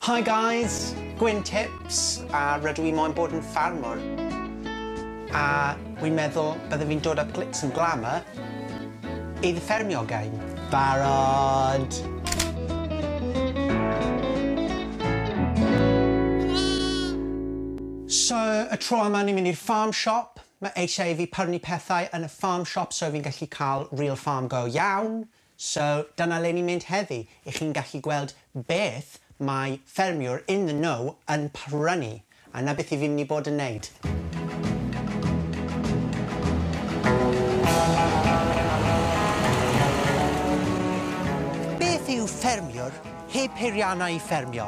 Hi guys! Gwyn Tips a rydw i moyn bod yn ffarmwr a wi'n meddwl byddwn fi'n dod â glitz and glamour i fy ffermio gain. Barod! So, y tro yma ni'n mynd i'r farm shop, mae eisiau i fi pyrnu pethau yn y farm shop so fi'n gallu cael real farm go iawn, So dyna le ni'n mynd heddi, i chi'n gallu gweld beth mae ffermiwr in the know yn prynu, a 'na beth i fi'n mynd i bod yn neud. Beth yw ffermiwr heb peiriannau i ffermio?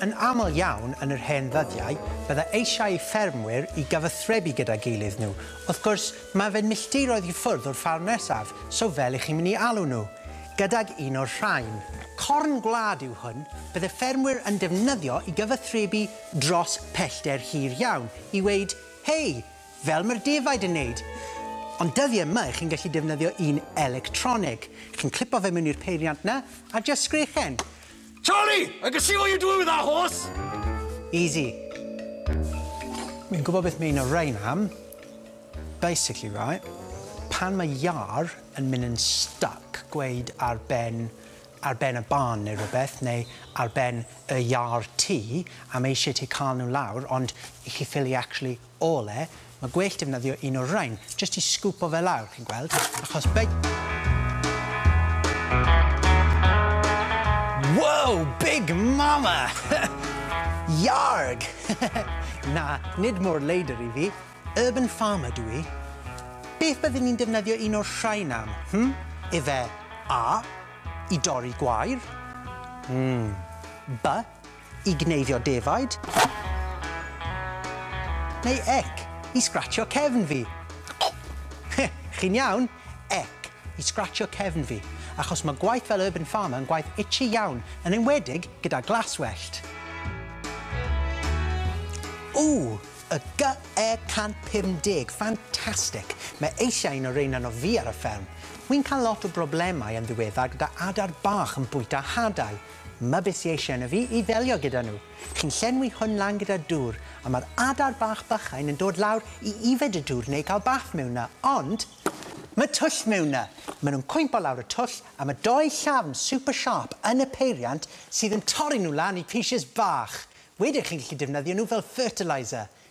Yn aml iawn yn yr hen ddyddiau, bydda eisiau i ffermwyr i gyfathrebu gyda'i gilydd nhw. Wrth gwrs, mae fe'n milltiroedd i ffwrdd o'r ffarm nesaf, so fel i chi'n mynd i alw nhw? Gydag un o'r rhain. Corn gwlad yw hwn, bydd y ffermwyr yn defnyddio i gyfathrebu dros pellter hir iawn, i weud, Hei! Fel mae'r defaid yn neud! Ond dyddie yma chi'n gallu defnyddio un electronig. Chi'n clipo fe mewn i'r peiriant 'na, a jyst sgrechen. Charlie! I can see what you're doing with that horse! Easy. Wi'n gwybod beth mae un o rhain am. Basically, right, pan mae iâr yn mynd yn stuck, gweud ar ben, ar ben y barn neu rhywbeth, neu ar ben y iâr ti, a mae eisiau ti cael nhw lawr, ond i chi ffili actually Ole, Mae gwell defnyddio un o'r rain, jyst i sgwpo fe lawr, chi'n gweld, achos big... Wow! Big Mama! Yarg! Na, nid mor leidr i fi. Urban farmer dw i. Beth byddwn i'n defnyddio un o'r rhain am, hm? Ife A, i dorri gwair? Mm. By, I gneifio defaid? Neu ec i sgratsio cefn fi? Chi'n iawn? Ec i sgratsio cefn fi, achos mae gwaith fel Urban Farmer yn gwaith itchy iawn, yn enwedig gyda glas wellt. Ww! Y GE150, ffantastig! Mae eisiau un o reina na fi ar y fferm. Wi'n cael lot o broblemau yn ddiweddar gyda adar bach yn bwyta hadau. Mae beth sy eisiau yno fi i ddelio gyda nhw. Chi'n llenwi hwn lan gyda dŵr, a mae'r adar bach bychain yn dod lawr i yfed y dŵr neu cael bath mewn 'na, ond mae twll mewn 'na! Maen nhw'n cwympo lawr y twll, a mae dou llafn super sharp yn y peiriant sydd yn torri nhw lan i pieces bach. Wedyn chi'n gallu defnyddio nhw fel fertiliser.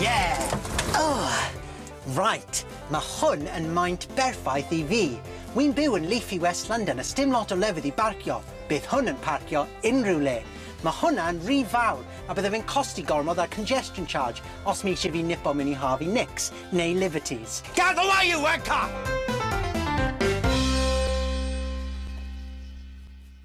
Yeah! Ugh! Right, ma' hwn yn maint berffaith i fi. Wi'n byw yn leafy West London a sdim lot o lefydd i barcio. Bydd hwn yn parcio unrhyw le. Ma' hwnna yn ry fawr a bydde fe'n costi gormod ar congestion charge os ma' isie fi nipo myn' i Harvey Nicks neu Liberties. Get away you wanker!